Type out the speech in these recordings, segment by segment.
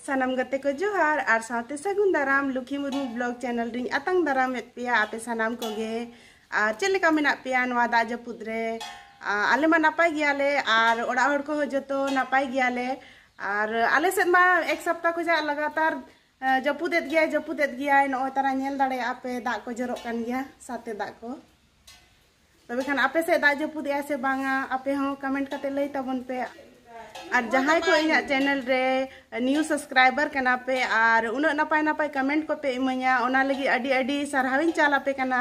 ᱥᱟᱱᱟᱢ ᱜᱟᱛᱮ ᱠᱚ ᱡᱚᱦᱟᱨ ᱟᱨ ᱥᱟᱶᱛᱮ ᱥᱟᱹᱜᱩᱱ ᱫᱟᱨᱟᱢ ᱞᱩᱠᱷᱤ ᱢᱩᱨᱢᱩ ᱵᱞᱚᱜ ᱪᱮᱱᱮᱞ ᱨᱤᱧ ᱟᱛᱟᱝ ᱫᱟᱨᱟᱢᱮᱫ ᱯᱮᱭᱟ ᱟᱯᱮ ᱥᱟᱱᱟᱢ ᱠᱚᱜᱮ ᱟᱨ ᱪᱮᱫ ᱞᱮᱠᱟ ᱢᱮᱱᱟᱜ ᱯᱮᱭᱟ ᱱᱚᱣᱟ ᱫᱟᱜ ᱡᱟᱹᱯᱩᱫ ᱨᱮ ᱟᱞᱮ ᱢᱟ ᱱᱟᱯᱟᱭ ᱜᱮᱭᱟᱞᱮ ᱟᱨ ᱚᱲᱟᱜ ᱦᱚᱲ ᱠᱚᱦᱚᱸ ᱡᱚᱛᱚ ᱱᱟᱯᱟᱭ ᱜᱮᱭᱟᱞᱮ ᱟᱨ ᱟᱞᱮ ᱥᱮᱫ ᱢᱟ ᱮᱠ ᱥᱚᱯᱛᱟ ᱠᱷᱚᱱᱟᱜ ᱞᱟᱜᱟᱛᱟᱨ ᱡᱟᱹᱯᱩᱫᱮᱫ ᱜᱮᱭᱟᱭ ᱡᱟᱹᱯᱩᱫᱮᱫ ᱜᱮᱭᱟᱭ ᱱᱚᱜᱼᱚᱭ ᱛᱟᱨᱟ ᱧᱮᱞ ᱫᱟᱲᱮᱭᱟᱜᱼᱟ ᱯᱮ ᱫᱟᱜ ᱠᱚ ᱡᱚᱨᱚᱜ ᱠᱟᱱ ᱜᱮᱭᱟ ᱥᱟᱛᱮ ᱫᱟᱜ ᱠᱚ ᱛᱚᱵᱮ ᱠᱷᱟᱱ ᱟᱯᱮ ᱥᱮᱫ ᱫᱟᱜ ᱡᱟᱹᱯᱩᱫ ᱮᱜᱼᱟ ᱥᱮ ᱵᱟᱝᱟ ᱟᱯᱮ ᱦᱚᱸ ᱠᱚᱢᱮᱱᱴ ᱠᱟᱛᱮ ᱞᱟᱹᱭ ᱛᱟᱵᱚᱱ ᱯᱮ ᱟᱨ ᱡᱟᱦᱟᱸᱭ ᱠᱚ ᱤᱧᱟᱹᱜ ᱪᱮᱱᱮᱞ ᱨᱮ ᱱᱤᱭᱩ ᱥᱟᱵᱥᱠᱨᱟᱭᱵᱟᱨ ᱠᱟᱱᱟ ᱯᱮ ᱟᱨ ᱩᱱᱟᱹᱜ ᱱᱟᱯᱟᱭ ᱱᱟᱯᱟᱭ ᱠᱚᱢᱮᱱᱴ ᱠᱚᱯᱮ ᱤᱢᱟᱹᱧᱟ ᱚᱱᱟ ᱞᱟᱹᱜᱤᱫ ᱟᱹᱰᱤ ᱟᱹᱰᱤ ᱥᱟᱨᱦᱟᱣᱤᱧ ᱪᱟᱞ ᱟᱯᱮ ᱠᱟᱱᱟ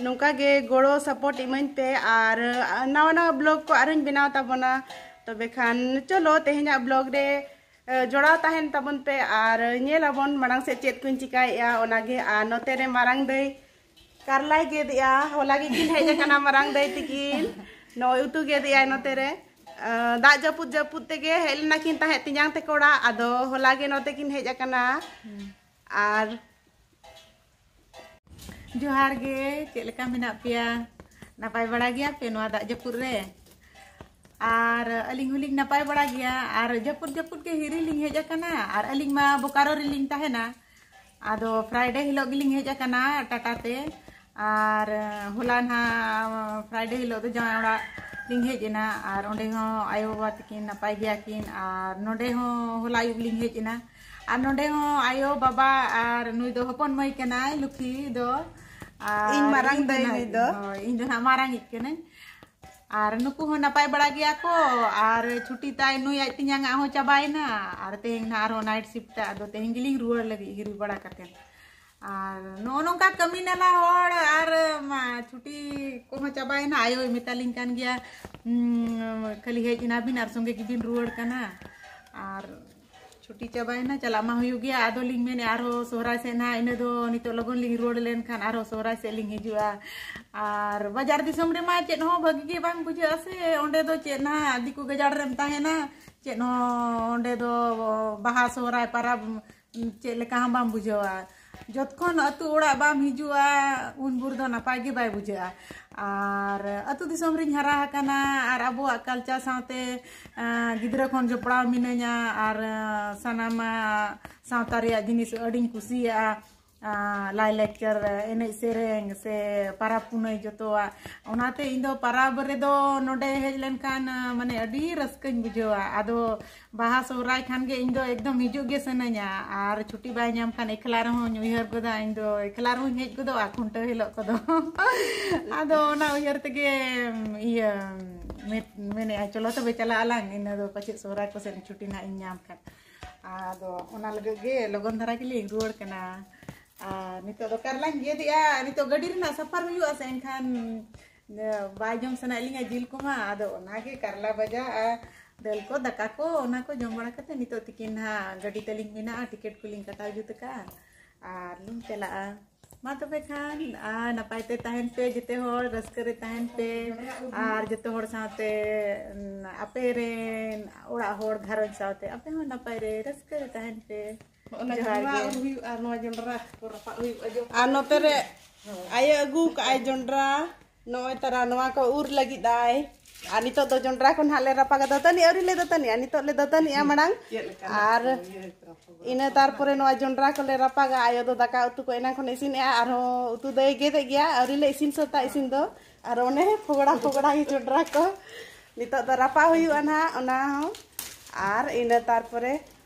ᱱᱚᱝᱠᱟ ᱜᱮ ᱜᱚᱲᱚ ᱥᱟᱯᱳᱨᱴ ᱤᱢᱟᱹᱧ ᱯᱮ ᱟᱨ ᱱᱟᱣᱟ ᱱᱟᱣᱟ ᱵᱞᱚᱜ ᱠᱚ ᱟᱨᱦᱚᱸᱧ ᱵᱮᱱᱟᱣ ᱛᱟᱵᱚᱱᱟ ᱛᱚᱵᱮ ᱠᱷᱟᱱ ᱪᱚᱞᱚ ᱛᱮᱦᱮᱧᱟᱜ ᱵᱞᱚᱜ ᱨᱮ ᱡᱚᱲᱟᱣ ᱛᱟᱦᱮᱱ ᱛᱟᱵᱚᱱ ᱯᱮ ᱟᱨ ᱧᱮᱞ ᱟᱵᱚᱱ ᱢᱟᱲᱟᱝ ᱥᱮᱫ ᱪᱮᱫ ᱠᱚᱧ ᱪᱤᱠᱟᱹᱭᱮᱜᱼᱟ ᱚᱱᱟᱜᱮ ᱟᱨ ᱱᱚᱛᱮ ᱨᱮ ᱢᱟᱨᱟᱝ ᱫᱟᱹᱭ ᱠᱟᱨᱞᱟᱭ ᱜᱮᱫᱮᱜᱼᱟ ᱦᱚᱞᱟ ᱜᱮ ᱠᱤᱱ ᱦᱮᱡ ᱟᱠᱟᱱᱟ ᱢᱟᱨᱟᱝ ᱫᱟᱹᱭ ᱛᱤᱠᱤᱱ ᱱᱚᱜᱼᱚᱭ ᱩᱛᱩ ᱜᱮᱫᱮᱜᱼᱟᱭ ᱱᱚᱛᱮ ᱨᱮ ᱫᱟᱜ ᱡᱟᱹᱯᱩᱫ ᱡᱟᱹᱯᱩᱫ ᱛᱮᱜᱮ ᱦᱮᱡ ᱞᱮᱱᱟ ᱠᱤᱱ ᱛᱟᱦᱮᱸᱫ ᱛᱤᱧᱟᱝ ᱛᱮᱠᱚ ᱚᱲᱟᱜ ᱟᱫᱚ ᱦᱚᱞᱟ ᱜᱮ ᱱᱚᱛᱮ ᱠᱤᱱ ᱦᱮᱡ ᱟᱠᱟᱱᱟ ᱟᱨ ᱡᱚᱦᱟᱨ ᱜᱮ ᱪᱮᱫ ᱞᱮᱠᱟ ᱢᱮᱱᱟᱜ ᱯᱮᱭᱟ ᱱᱟᱯᱟᱭ ᱵᱟᱲᱟ ᱜᱮᱭᱟ ᱯᱮ ᱱᱚᱣᱟ ᱫᱟᱜ ᱡᱟᱹᱯᱩᱫ ᱨᱮ ᱟᱨ ᱟᱹᱞᱤᱧ ᱦᱚᱸᱞᱤᱧ ᱱᱟᱯᱟᱭ ᱵᱟᱲᱟ ᱜᱮᱭᱟ ᱟᱨ ᱡᱟᱹᱯᱩᱫ ᱡᱟᱹᱯᱩᱫ ᱜᱮ ᱦᱤᱨᱤ ᱞᱤᱧ ᱦᱮᱡ ᱟᱠᱟᱱᱟ ᱟᱨ ᱟᱹᱞᱤᱧ ᱢᱟ ᱵᱳᱠᱟᱨᱳ ᱨᱮᱞᱤᱧ ᱛᱟᱦᱮᱱᱟ ᱟᱫᱚ ᱯᱷᱨᱟᱭᱰᱮ ᱦᱤᱞᱳᱜ ᱜᱮᱞᱤᱧ ᱦᱮᱡ ᱟᱠᱟᱱᱟ ᱴᱟᱴᱟ ᱛᱮ ᱟᱨ ᱦᱚᱞᱟ ᱱᱟᱦᱟᱜ ᱯᱷᱨᱟᱭᱰᱮ ᱦᱤᱞᱳᱜ ᱫᱚ ᱡᱟᱶᱟᱭ ᱚᱲᱟᱜ ᱞᱤᱧ ᱦᱮᱡ ᱮᱱᱟ ᱟᱨ ᱚᱸᱰᱮ ᱦᱚᱸ ᱟᱭᱳ ᱵᱟᱵᱟ ᱛᱟᱹᱠᱤᱱ ᱱᱟᱯᱟᱭ ᱜᱮᱭᱟ ᱠᱤᱱ ᱟᱨ ᱱᱚᱸᱰᱮ ᱦᱚᱸ ᱦᱚᱞᱟ ᱟᱹᱭᱩᱵ ᱞᱤᱧ ᱦᱮᱡ ᱮᱱᱟ ᱟᱨ ᱱᱚᱸᱰᱮ ᱦᱚᱸ ᱟᱭᱳ ᱵᱟᱵᱟ ᱟᱨ ᱱᱩᱭ ᱫᱚ ᱦᱚᱯᱚᱱ ᱢᱟᱹᱭ ᱠᱟᱱᱟᱭ ᱞᱩᱠᱷᱤ ᱫᱚ ᱤᱧ ᱢᱟᱨᱟᱝ ᱫᱟᱹᱭ ᱱᱩᱭ ᱫᱚ ᱤᱧ ᱫᱚ ᱱᱟᱦᱟᱜ ᱢᱟᱨᱟᱝ ᱤᱡ ᱠᱟᱹᱱᱟᱹᱧ ᱟᱨ ᱱᱩᱠᱩ ᱦᱚᱸ ᱱᱟᱯᱟᱭ ᱵᱟᱲᱟ ᱜᱮᱭᱟ ᱠᱚ ᱟᱨ ᱪᱷᱩᱴᱤ ᱛᱟᱭ ᱱᱩᱭ ᱟᱡ ᱛᱤᱧᱟᱝ ᱟᱜ ᱦᱚᱸ ᱪᱟᱵᱟᱭᱮᱱᱟ ᱟᱨ ᱛᱮᱦᱮᱧ ᱱᱟ ᱟᱨᱦᱚᱸ ᱱᱟᱭᱤᱴ ᱥᱤᱯᱴ ᱟᱫᱚ ᱛᱮᱦᱮᱧ ᱜᱮᱞᱤᱧ ᱨᱩᱣᱟᱹᱲ ᱞᱟᱹᱜᱤᱫ ᱦᱤᱨᱤ ᱵᱟᱲᱟ ᱠᱟᱛᱮ ᱟᱨ ᱱᱚᱜᱼᱚ ᱱᱚᱝᱠᱟ ᱠᱟᱹᱢᱤ ᱱᱟᱞᱟ ᱦᱚᱲ ᱟᱨ ᱪᱷᱩᱴᱤ ᱠᱚᱦᱚᱸ ᱪᱟᱵᱟᱭᱮᱱᱟ ᱟᱭᱳᱭ ᱢᱮᱛᱟᱞᱤᱧ ᱠᱟᱱ ᱜᱮᱭᱟ ᱠᱷᱟᱹᱞᱤ ᱦᱮᱡ ᱮᱱᱟᱵᱤᱱ ᱟᱨ ᱥᱚᱸᱜᱮ ᱜᱮᱵᱤᱱ ᱨᱩᱣᱟᱹᱲ ᱠᱟᱱᱟ ᱟᱨ ᱪᱷᱩᱴᱤ ᱪᱟᱵᱟᱭᱮᱱᱟ ᱪᱟᱞᱟᱜ ᱢᱟ ᱦᱩᱭᱩᱜ ᱜᱮᱭᱟ ᱟᱫᱚ ᱞᱤᱧ ᱢᱮᱱᱮ ᱟᱨᱚ ᱥᱚᱦᱨᱟᱭ ᱥᱮᱫ ᱱᱟᱦᱟᱜ ᱤᱱᱟᱹ ᱫᱚ ᱱᱤᱛᱚᱜ ᱞᱚᱜᱚᱱ ᱞᱤᱧ ᱨᱩᱣᱟᱹᱲ ᱞᱮᱱᱠᱷᱟᱱ ᱟᱨᱚ ᱥᱚᱦᱨᱟᱭ ᱥᱮᱫ ᱞᱤᱧ ᱦᱤᱡᱩᱜᱼᱟ ᱟᱨ ᱵᱟᱡᱟᱨ ᱫᱤᱥᱚᱢ ᱨᱮᱢᱟ ᱪᱮᱫ ᱦᱚᱸ ᱵᱷᱟᱹᱜᱤ ᱜᱮ ᱵᱟᱝ ᱵᱩᱡᱷᱟᱹᱜᱼᱟ ᱥᱮ ᱚᱸᱰᱮ ᱫᱚ ᱪᱮᱫ ᱱᱟᱦᱟᱜ ᱫᱤᱠᱩ ᱜᱟᱡᱟᱲ ᱨᱮᱢ ᱛᱟᱦᱮᱱᱟ ᱪᱮᱫ ᱦᱚᱸ ᱚᱸᱰᱮ ᱫᱚ ᱵᱟᱦᱟ ᱥᱚᱦᱨᱟᱭ ᱯᱟᱨᱟᱵᱽ ᱪᱮᱫ ᱞᱮᱠᱟ ᱦᱚᱸ ᱵᱟᱢ ᱵᱩᱡᱷᱟᱹᱣᱟ ᱡᱚᱛᱠᱷᱚᱱ ᱟᱹᱛᱩ ᱚᱲᱟᱜ ᱵᱟᱢ ᱦᱤᱡᱩᱜᱼᱟ ᱩᱱ ᱵᱷᱳᱨ ᱫᱚ ᱱᱟᱯᱟᱭ ᱜᱮ ᱵᱟᱭ ᱵᱩᱡᱷᱟᱹᱜᱼᱟ ᱟᱨ ᱟᱹᱛᱩ ᱫᱤᱥᱚᱢ ᱨᱤᱧ ᱦᱟᱨᱟ ᱟᱠᱟᱱᱟ ᱟᱨ ᱟᱵᱚᱣᱟᱜ ᱠᱟᱞᱪᱟᱨ ᱥᱟᱶᱛᱮ ᱜᱤᱫᱽᱨᱟᱹ ᱠᱷᱚᱱ ᱡᱚᱯᱲᱟᱣ ᱢᱤᱱᱟᱹᱧᱟ ᱟᱨ ᱥᱟᱱᱟᱢᱟᱜ ᱥᱟᱶᱛᱟ ᱨᱮᱭᱟᱜ ᱡᱤᱱᱤᱥ ᱟᱹᱰᱤᱧ ᱠᱩᱥᱤᱭᱟᱜᱼᱟ ᱞᱟᱭ ᱞᱟᱠᱪᱟᱨ ᱮᱱᱮᱡ ᱥᱮᱨᱮᱧ ᱥᱮ ᱯᱟᱨᱟᱵᱽ ᱯᱩᱱᱟᱹᱭ ᱡᱚᱛᱚᱣᱟᱜ ᱚᱱᱟᱛᱮ ᱤᱧ ᱫᱚ ᱯᱟᱨᱟᱵᱽ ᱨᱮᱫᱚ ᱱᱚᱰᱮ ᱦᱮᱡ ᱞᱮᱱᱠᱷᱟᱱ ᱢᱟᱱᱮ ᱟᱹᱰᱤ ᱨᱟᱹᱥᱠᱟᱹᱧ ᱵᱩᱡᱷᱟᱹᱣᱟ ᱟᱫᱚ ᱵᱟᱦᱟ ᱥᱚᱦᱨᱟᱭ ᱠᱷᱟᱱ ᱜᱮ ᱤᱧ ᱫᱚ ᱮᱠᱫᱚᱢ ᱦᱤᱡᱩᱜ ᱜᱮ ᱥᱟᱱᱟᱧᱟ ᱟᱨ ᱪᱷᱩᱴᱤ ᱵᱟᱭ ᱧᱟᱢ ᱠᱷᱟᱱ ᱮᱠᱞᱟ ᱨᱮᱦᱚᱸᱧ ᱩᱭᱦᱟᱹᱨ ᱜᱚᱫᱟ ᱤᱧ ᱫᱚ ᱮᱠᱞᱟ ᱨᱮᱦᱚᱸᱧ ᱦᱮᱡ ᱜᱚᱫᱚᱜᱼᱟ ᱠᱷᱩᱱᱴᱟᱹᱣ ᱦᱤᱞᱳᱜ ᱠᱚᱫᱚ ᱟᱫᱚ ᱚᱱᱟ ᱩᱭᱦᱟᱹᱨ ᱛᱮᱜᱮ ᱤᱭᱟᱹ ᱢᱮᱱᱮᱜᱼᱟ ᱪᱚᱞᱚ ᱛᱚᱵᱮ ᱪᱟᱞᱟᱜ ᱟᱞᱟᱝ ᱤᱱᱟᱹ ᱫᱚ ᱯᱟᱪᱮᱫ ᱥᱚᱦᱨᱟᱭ ᱠᱚᱥᱮᱫ ᱪᱷᱩᱴᱤ ᱱᱟᱜ ᱤᱧ ᱧᱟᱢ ᱠᱷᱟᱱ ᱟᱫᱚ ᱚᱱᱟ ᱞᱟᱹᱜᱤᱫ ᱜᱮ ᱞᱚᱜᱚᱱ ᱫᱷᱟᱨᱟ ᱜᱮᱞᱤᱧ ᱨᱩᱣᱟᱹᱲ ᱠᱟᱱᱟ ᱟᱨ ᱱᱤᱛᱚᱜ ᱫᱚ ᱠᱟᱨᱞᱟᱧ ᱜᱮᱫᱮᱜᱼᱟ ᱱᱤᱛᱚᱜ ᱜᱟᱹᱰᱤ ᱨᱮᱱᱟᱜ ᱥᱟᱯᱷᱟᱨ ᱦᱩᱭᱩᱜᱼᱟ ᱥᱮ ᱮᱱᱠᱷᱟᱱ ᱵᱟᱭ ᱡᱚᱢ ᱥᱟᱱᱟᱭᱮᱫ ᱞᱤᱧᱟ ᱡᱤᱞ ᱠᱚᱢᱟ ᱟᱫᱚ ᱚᱱᱟᱜᱮ ᱠᱟᱨᱞᱟ ᱵᱷᱟᱡᱟ ᱟᱨ ᱫᱟᱹᱞ ᱠᱚ ᱫᱟᱠᱟ ᱠᱚ ᱚᱱᱟ ᱠᱚ ᱡᱚᱢ ᱵᱟᱲᱟ ᱠᱟᱛᱮ ᱱᱤᱛᱚᱜ ᱛᱤᱠᱤᱱ ᱦᱟᱸᱜ ᱜᱟᱹᱰᱤ ᱛᱟᱹᱞᱤᱧ ᱢᱮᱱᱟᱜᱼᱟ ᱴᱤᱠᱮᱴ ᱠᱚᱞᱤᱧ ᱠᱟᱴᱟᱣ ᱡᱩᱛ ᱟᱠᱟᱫᱼᱟ ᱟᱨ ᱞᱤᱧ ᱪᱟᱞᱟᱜᱼᱟ ᱢᱟ ᱛᱚᱵᱮ ᱠᱷᱟᱱ ᱟᱨ ᱱᱟᱯᱟᱭ ᱛᱮ ᱛᱟᱦᱮᱱ ᱯᱮ ᱡᱮᱛᱮ ᱦᱚᱲ ᱨᱟᱹᱥᱠᱟᱹ ᱨᱮ ᱛᱟᱦᱮᱱ ᱯᱮ ᱟᱨ ᱡᱚᱛᱚ ᱦᱚᱲ ᱥᱟᱶᱛᱮ ᱟᱯᱮ ᱨᱮᱱ ᱚᱲᱟᱜ ᱦᱚᱲ ᱜᱷᱟᱨᱚᱸᱡᱽ ᱥᱟᱶᱛᱮ ᱟᱯᱮ ᱦᱚᱸ ᱱᱟᱯᱟᱭ ᱨᱮ ᱨᱟᱹᱥᱠᱟᱹ ᱨᱮ ᱛᱟᱦᱮᱱ ᱯᱮ ᱡᱚᱦᱟᱨ ᱜᱮ ᱦᱩᱭᱩᱜᱼᱟ ᱱᱚᱣᱟ ᱡᱚᱱᱰᱨᱟ ᱠᱚ ᱨᱟᱯᱟᱜ ᱦᱩᱭᱩᱜᱼᱟ ᱟᱨ ᱱᱚᱛᱮ ᱨᱮ ᱟᱭᱳ ᱟᱹᱜᱩ ᱠᱟᱜᱼᱟᱭ ᱡᱚᱱᱰᱨᱟ ᱱᱚᱜᱼᱚᱭ ᱛᱟᱨᱟ ᱱᱚᱣᱟ ᱠᱚ ᱩᱨ ᱞᱟᱹᱜᱤᱫ ᱟᱭ ᱟᱨ ᱱᱤᱛᱚᱜ ᱫᱚ ᱡᱚᱱᱰᱨᱟ ᱠᱚ ᱱᱟᱦᱟᱜ ᱞᱮ ᱨᱟᱯᱟᱜᱟ ᱫᱟᱹᱛᱟᱹᱱᱤ ᱟᱹᱣᱨᱤ ᱞᱮ ᱫᱟᱹᱛᱟᱹᱱᱤᱜᱼᱟ ᱱᱤᱛᱚᱜ ᱞᱮ ᱫᱟᱹᱛᱟᱹᱱᱤᱜᱼᱟ ᱢᱟᱲᱟᱝ ᱟᱨ ᱤᱱᱟᱹ ᱛᱟᱨᱯᱚᱨᱮ ᱱᱚᱣᱟ ᱡᱚᱱᱰᱨᱟ ᱠᱚᱞᱮ ᱨᱟᱯᱟᱜᱟ ᱟᱭᱳ ᱫᱚ ᱫᱟᱠᱟ ᱩᱛᱩ ᱠᱚ ᱮᱱᱟᱝ ᱠᱷᱚᱱ ᱤᱥᱤᱱᱮᱜᱼᱟ ᱟᱨᱦᱚᱸ ᱩᱛᱩ ᱫᱚᱭ ᱜᱮᱫᱮᱜ ᱜᱮᱭᱟ ᱟᱹᱣᱨᱤ ᱞᱮ ᱤᱥᱤᱱ ᱥᱟᱹᱛᱟ ᱤᱥᱤᱱ ᱫᱚ ᱟᱨ ᱚᱱᱮ ᱯᱷᱚᱜᱲᱟ ᱯᱷᱚᱜᱲᱟ ᱜᱮ ᱡᱚᱱᱰᱨᱟ ᱠᱚ ᱱᱤᱛᱚᱜ ᱫᱚ ᱨᱟᱯᱟᱜ ᱦᱩᱭᱩᱜᱼᱟ ᱱᱟᱦᱟᱜ ᱚᱱᱟ ᱦᱚᱸ ᱟᱨ ᱤᱱᱟᱹ ᱛᱟᱨᱯᱚᱨᱮ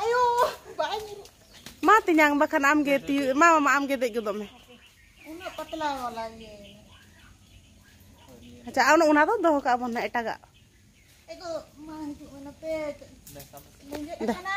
ᱟᱭᱳ ᱵᱟᱭ ᱢᱟ ᱛᱤᱧᱟᱝ ᱵᱟᱠᱷᱟᱱ ᱟᱢ ᱜᱮ ᱛᱤ ᱢᱟ ᱢᱟᱢᱟ ᱟᱢ ᱜᱮ ᱫᱮᱡ ᱜᱚᱫᱚᱜ ᱢᱮ ᱩᱱᱟᱹᱜ ᱯᱟᱛᱞᱟ ᱣᱟᱞᱟ ᱜᱮ ᱟᱪᱪᱷᱟ ᱟᱨ ᱚᱱᱟ ᱫᱚ ᱫᱚᱦᱚ ᱠᱟᱜ ᱵᱚᱱ ᱱᱟ ᱮᱴᱟᱜᱟᱜ ᱮᱜᱚ ᱢᱟ ᱦᱤᱡᱩᱜ ᱢᱮ ᱱᱚᱛᱮ ᱞᱮᱸᱡᱮᱫ ᱟᱠᱟᱱᱟ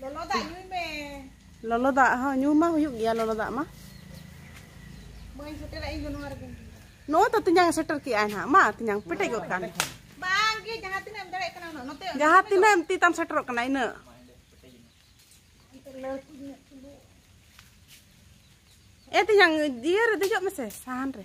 ᱞᱚᱞᱚ ᱫᱟᱜ ᱧᱩᱭ ᱢᱮ ᱞᱚᱞᱚ ᱫᱟᱜ ᱦᱚᱸ ᱧᱩ ᱢᱟ ᱦᱩᱭᱩᱜ ᱜᱮᱭᱟ ᱞᱚᱞᱚ ᱫᱟᱜ ᱢᱟ ᱵᱟᱹᱧ ᱥᱮᱴᱮᱨᱟ ᱤᱧ ᱫᱚ ᱱᱚᱣᱟ ᱨᱮᱜᱮ ᱱᱚᱜᱼᱚᱭ ᱛᱚ ᱛᱤᱧᱟᱝ ᱥᱮᱴᱮᱨ ᱠᱮᱜᱼᱟ ᱱᱟᱦᱟᱜ ᱢᱟ ᱛᱤᱧᱟᱝ ᱯᱮᱴᱮᱡ ᱜᱚᱫ ᱠᱟᱱ ᱵᱟᱝ ᱜᱮ ᱡᱟᱦᱟᱸ ᱛᱤᱱᱟᱹᱜ ᱮᱢ ᱫᱟᱲᱮᱭᱟᱜ ᱠᱟᱱᱟ ᱩᱱᱟᱹᱜ ᱱᱚᱛᱮ ᱡᱟᱦᱟᱸ ᱛᱤᱱᱟᱹᱜ ᱮᱢ ᱛᱤ ᱛᱟᱢ ᱥᱮᱴᱮᱨᱚᱜ ᱠᱟᱱᱟ ᱤᱱᱟᱹᱜ ᱮ ᱛᱤᱧᱟᱝ ᱡᱤᱭᱟᱹ ᱨᱮ ᱫᱮᱡᱚᱜ ᱢᱮᱥᱮ ᱥᱟᱦᱟᱱ ᱨᱮ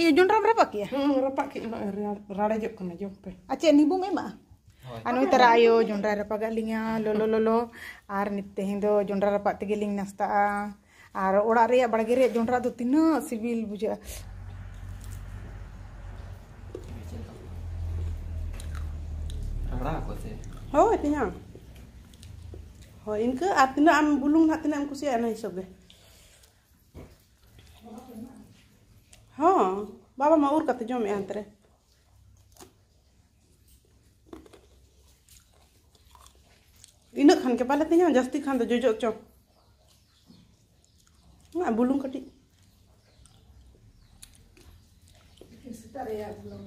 ᱤᱭᱟᱹ ᱡᱚᱱᱰᱨᱟᱢ ᱨᱟᱯᱟᱜ ᱠᱮᱜᱼᱟ ᱦᱮᱸ ᱨᱟᱯᱟᱜ ᱠᱮᱜ ᱨᱟᱲᱮᱡᱚᱜ ᱠᱟᱱᱟ ᱡᱚᱢ ᱯᱮ ᱟᱨ ᱪᱮᱫ ᱱᱤᱵᱩᱢ ᱮᱢᱟᱜᱼᱟ ᱟᱨ ᱱᱩᱭ ᱛᱟᱨᱟ ᱟᱭᱳ ᱡᱚᱱᱰᱨᱟᱭ ᱨᱟᱯᱟᱜᱟᱜ ᱞᱤᱧᱟ ᱞᱚᱞᱚ ᱞᱚᱞᱚ ᱟᱨ ᱛᱮᱦᱮᱧ ᱫᱚ ᱡᱚᱱᱰᱨᱟ ᱨᱟᱯᱟᱜ ᱛᱮᱜᱮ ᱞᱤᱧ ᱱᱟᱥᱛᱟᱜᱼᱟ ᱟᱨ ᱚᱲᱟᱜ ᱨᱮᱭᱟᱜ ᱵᱟᱲᱜᱮ ᱨᱮᱭᱟᱜ ᱡᱚᱱᱰᱨᱟ ᱫᱚ ᱛᱤᱱᱟᱹᱜ ᱥᱤᱵᱤᱞ ᱵᱩᱡᱷᱟᱹᱜᱼᱟ ᱦᱳᱭ ᱛᱤᱧᱟ ᱦᱳᱭ ᱤᱱᱠᱟᱹ ᱟᱨ ᱛᱤᱱᱟᱹᱜ ᱟᱢ ᱵᱩᱞᱩᱝ ᱱᱟᱜ ᱛᱤᱱᱟᱹᱜ ᱮᱢ ᱠᱩᱥᱤᱭᱟᱜᱼᱟ ᱚᱱᱟ ᱦᱤᱥᱟᱹᱵ ᱜᱮ ᱦᱚᱸ ᱵᱟᱵᱟ ᱢᱟ ᱩᱨ ᱠᱟᱛᱮ ᱡᱚᱢᱮᱫᱼᱟ ᱦᱟᱱᱛᱮ ᱨᱮ ᱤᱱᱟᱹᱜ ᱠᱷᱟᱱ ᱜᱮ ᱵᱟᱞᱮ ᱛᱤᱧᱟ ᱡᱟᱹᱥᱛᱤ ᱠᱷᱟᱱ ᱫᱚ ᱡᱚᱡᱚᱜ ᱪᱚ ᱵᱩᱞᱩᱝ ᱠᱟᱹᱴᱤᱡ ᱥᱮᱛᱟᱜ ᱨᱮᱭᱟᱜ ᱵᱩᱞᱩᱝ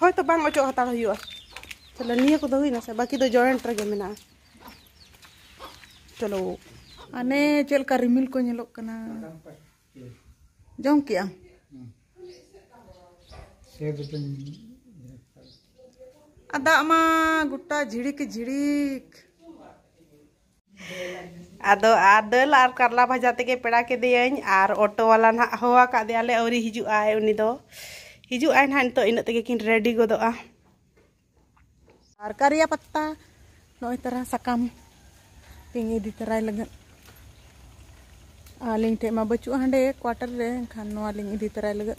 ᱦᱚᱭᱛᱚ ᱵᱟᱝ ᱚᱪᱚᱜ ᱦᱟᱛᱟᱲ ᱦᱩᱭᱩᱜᱼᱟ ᱛᱟᱦᱞᱮ ᱱᱤᱭᱟᱹ ᱠᱚᱫᱚ ᱦᱩᱭᱱᱟ ᱥᱮ ᱵᱟᱹᱠᱤ ᱫᱚ ᱡᱚᱭᱮᱱᱴ ᱨᱮᱜᱮ ᱢᱮᱱᱟᱜᱼᱟ ᱪᱚᱞᱚ ᱟᱱᱮ ᱪᱮᱫ ᱞᱮᱠᱟ ᱨᱤᱢᱤᱞ ᱠᱚ ᱧᱮᱞᱚᱜ ᱠᱟᱱᱟ ᱡᱚᱢ ᱠᱮᱜ ᱟᱢ ᱟᱨ ᱫᱟᱜ ᱢᱟ ᱜᱚᱴᱟ ᱡᱷᱤᱲᱤᱠ ᱡᱷᱤᱲᱤᱠ ᱟᱫᱚ ᱟᱨ ᱫᱟᱹᱞ ᱟᱨ ᱠᱟᱨᱞᱟ ᱵᱷᱟᱡᱟ ᱛᱮᱜᱮ ᱯᱮᱲᱟ ᱠᱮᱫᱮᱭᱟᱹᱧ ᱟᱨ ᱚᱴᱳ ᱣᱟᱞᱟ ᱱᱟᱜ ᱦᱚᱦᱚ ᱟᱠᱟᱫ ᱫᱮᱭᱟᱞᱮ ᱟᱹᱣᱨᱤ ᱦᱤᱡᱩᱜ ᱟᱭ ᱩᱱᱤ ᱫᱚ ᱦᱤᱡᱩᱜ ᱟᱭ ᱱᱟᱜ ᱱᱤᱛᱚᱜ ᱤᱱᱟᱹᱜ ᱛᱮᱜᱮ ᱠᱤᱱ ᱨᱮᱰᱤ ᱜᱚᱫᱚᱜᱼᱟ ᱟᱨ ᱠᱟᱨᱤᱭᱟ ᱯᱟᱛᱟ ᱱᱚᱜᱼᱚᱭ ᱛᱟᱨᱟ ᱥᱟᱠᱟᱢ ᱛᱤᱧ ᱤᱫᱤ ᱛᱟᱨᱟᱭ ᱞᱟᱹᱜᱤᱫ ᱟᱹᱞᱤᱧ ᱴᱷᱮᱡ ᱢᱟ ᱵᱟᱹᱪᱩᱜᱼᱟ ᱦᱟᱸᱰᱮ ᱠᱣᱟᱴᱟᱨ ᱨᱮ ᱮᱱᱠᱷᱟᱱ ᱱᱚᱣᱟ ᱞᱤᱧ ᱤᱫᱤ ᱛᱟᱨᱟᱭ ᱞᱟᱹᱜᱤᱫ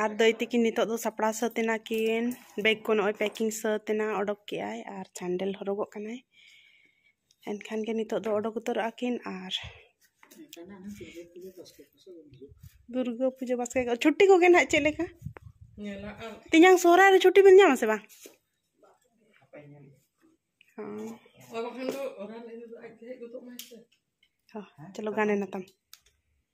ᱟᱨ ᱫᱟᱹᱭ ᱛᱟᱹᱠᱤᱱ ᱱᱤᱛᱚᱜ ᱫᱚ ᱥᱟᱯᱲᱟᱣ ᱥᱟᱹᱛ ᱮᱱᱟ ᱠᱤᱱ ᱵᱮᱜᱽ ᱠᱚ ᱱᱚᱜᱼᱚᱭ ᱯᱮᱠᱤᱝ ᱥᱟᱹᱛ ᱮᱱᱟ ᱚᱰᱚᱠ ᱠᱮᱫᱟᱭ ᱟᱨ ᱥᱮᱱᱰᱮᱞ ᱦᱚᱨᱚᱜᱚᱜ ᱠᱟᱱᱟᱭ ᱮᱱᱠᱷᱟᱱ ᱜᱮ ᱱᱤᱛᱚᱜ ᱫᱚ ᱚᱰᱚᱠ ᱩᱛᱟᱹᱨᱚᱜᱼᱟ ᱠᱤᱱ ᱟᱨ ᱫᱩᱨᱜᱟᱹ ᱯᱩᱡᱟᱹ ᱵᱟᱥᱠᱮ ᱪᱷᱩᱴᱤ ᱠᱚᱜᱮ ᱱᱟᱦᱟᱜ ᱪᱮᱫ ᱞᱮᱠᱟ ᱛᱮᱧᱟᱝ ᱥᱚᱦᱨᱟᱭ ᱨᱮ ᱪᱷᱩᱴᱤ ᱵᱤᱱ ᱧᱟᱢᱟ ᱥᱮ ᱵᱟᱝ ᱦᱚᱸ ᱪᱚᱞᱚ ᱜᱟᱱ ᱮᱱᱟ ᱛᱟᱢ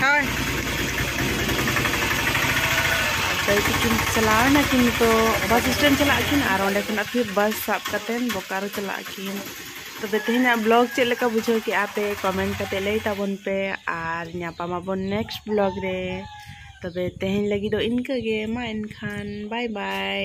ᱦᱳᱭ ᱛᱟᱹᱭ ᱛᱤᱠᱤᱱ ᱪᱟᱞᱟᱣ ᱮᱱᱟᱠᱤᱱ ᱱᱤᱛᱚᱜ ᱵᱟᱥ ᱥᱴᱮᱱᱰ ᱪᱟᱞᱟᱜ ᱟᱹᱠᱤᱱ ᱟᱨ ᱚᱸᱰᱮ ᱠᱷᱚᱱᱟᱜ ᱯᱷᱤᱨ ᱵᱟᱥ ᱥᱟᱵ ᱠᱟᱛᱮᱫ ᱵᱳᱠᱟᱨᱳ ᱪᱟᱞᱟᱜ ᱟᱹᱠᱤᱱ ᱛᱚᱵᱮ ᱛᱮᱦᱮᱧᱟᱜ ᱵᱞᱚᱜ ᱪᱮᱫ ᱞᱮᱠᱟ ᱵᱩᱡᱷᱟᱹᱣ ᱠᱮᱜᱼᱟ ᱯᱮ ᱠᱚᱢᱮᱱᱴ ᱠᱟᱛᱮᱫ ᱞᱟᱹᱭ ᱛᱟᱵᱚᱱ ᱯᱮ ᱟᱨ ᱧᱟᱯᱟᱢᱟᱵᱚᱱ ᱱᱮᱠᱥᱴ ᱵᱞᱚᱜ ᱨᱮ ᱛᱚᱵᱮ ᱛᱮᱦᱮᱧ ᱞᱟᱹᱜᱤᱫ ᱫᱚ ᱤᱱᱠᱟᱹ ᱜᱮ ᱢᱟ ᱮᱱᱠᱷᱟᱱ ᱵᱟᱭ ᱵᱟᱭ